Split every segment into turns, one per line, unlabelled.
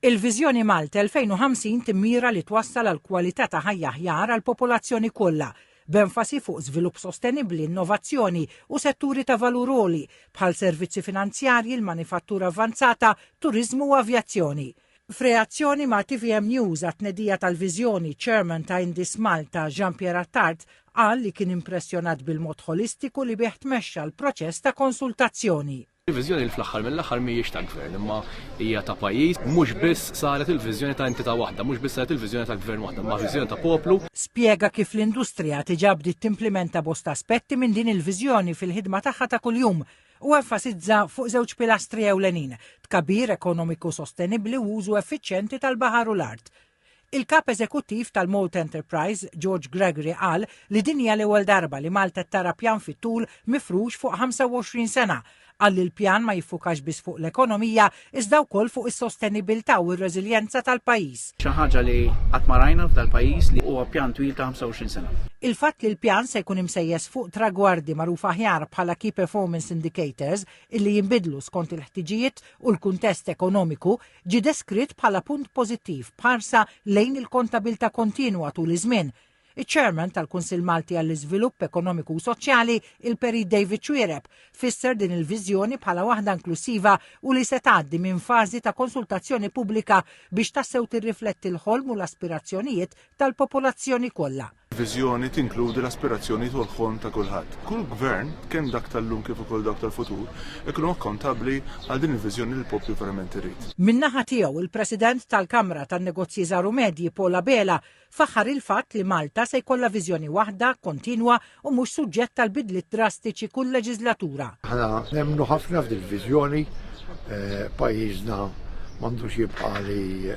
Il-Viżjoni Malta 2050 timmira li twassal għal kwalità ta' ħajja aħjar għall-popolazzjoni kollha, b'enfasi fuq żvilupp sostenibbli, innovazzjoni u setturi ta' valur għoli, bħal servizzi finanzjarji, l-manifattura avvanzata, turiżmu u avjazzjoni. F'reazzjoni ma' tvm News għat-tnedija tal-viżjoni, ċ-Chairman ta' Indis Malta, Jean Pierre Attard, qal li kien impressjonat bil-mod ħolistiku li bih tmexxa l-proċess ta' konsultazzjoni. Il-viżjoni li fl-aħħar
mill-aħħar mhijiex ta' gvern, imma hija ta' pajjiż, mhux biss saret il-viżjoni ta' entità waħda, mhux biss saret il-viżjoni ta' gvern waħda, imma viżjoni ta' poplu. Spjega kif
l-industrija diġà bdiet timplimenta bosta aspetti minn din il-viżjoni fil-ħidma tagħha ta' kuljum u enfasizza fuq żewġ pilastri ewlenin, tkabbir ekonomiku sostenibbli u użu effiċjenti tal-baħar u l-art. Il-Kap Eżekuttiv tal-Malta Enterprise, George Gregory qal li din hija l-ewwel darba li Malta tara pjan fit-tul mifrux fuq 25 sena. Qal li l-pjan ma jiffukax biss fuq l-ekonomija iżda wkoll fuq is-sostenibilità u r-reżiljenza tal-pajjiż. Xi ħaġa li
qatt ma rajna f'dal pajjiż li huwa pjan twil ta' 25 sena. Il-fatt li l-pjan
se jkun imsejjes fuq tragwardi magħrufa aħjar bħala Key Performance Indicators illi jinbidlu skont il-ħtiġijiet u l-kuntest ekonomiku, ġie deskritt bħala punt pożittiv b'ħarsa lejn il-kontabilità kontinwa tul iż-żmien. Iċ-Chairman tal-Kunsill Malti għall-Iżvilupp Ekonomiku u Soċjali, il-Perit David Xuereb, fisser din il-viżjoni bħala waħda inklussiva u li se tgħaddi minn fażi ta' konsultazzjoni pubblika biex tassew tirrifletti l-ħolm u l-aspirazzjonijiet tal-popolazzjoni kollha. Viżjoni tinkludi
l-aspirazzjonijiet u l-ħolm ta' kulħadd. Kull gvern, kemm dak tal-lum kif ukoll dawk tal-futur, ikunu akkontabbli għal din il-viżjoni li l-poplu verament irid. Min-naħa tiegħu,
il-President tal-Kamra tan-Negozji Żgħar u Medji Paul Abela faħħar il-fatt li Malta se jkollha viżjoni waħda, kontinwa u mhux suġġett għal bidliet drastiċi kull leġiżlatura. Aħna nemmnu
ħafna f'din il-viżjoni, pajjiżna m'għandux jibqa' li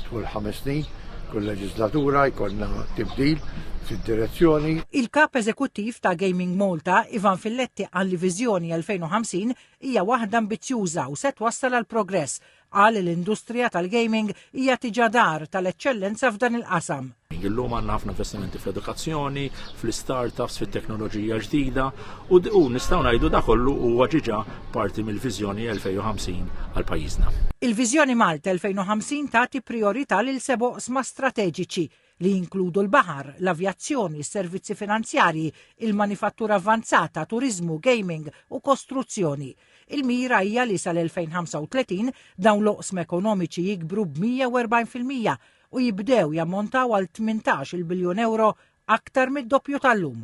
tul ħames snin, Kull leġislatura jkollna tibdil fid-direzzjoni. Il-kap
eżekuttiv ta' Gaming Malta, Ivan Filletti qal li viżjoni 2050 hija waħda ambizzjuża u se twassal għal progress. Qal li l-industrija tal-gaming hija tiġa dar tal-eċċellenza f'dan il-qasam. Illum għandna ħafna
investimenti fl-edukazzjoni, fl-startups, fit-teknoloġija ġdida u nistgħu ngħidu da kollu huwa ġiġa parti mill-Viżjoni 2050 għal pajjiżna. Il-Viżjoni Malta
2050 tagħti prijorità lil seba' oqsma strateġiċi li jinkludu l-baħar, l-avjazzjoni, s-servizzi finanzjarji, il-manifattura avvanzata, turiżmu, gaming u kostruzzjoni. Il-mira hija li sal-2035 dawn l-oqsma ekonomiċi jikbru b'140 fil-mija u jibdew jammontaw għal 18 il-biljun euro aktar mid-doppju tal-lum.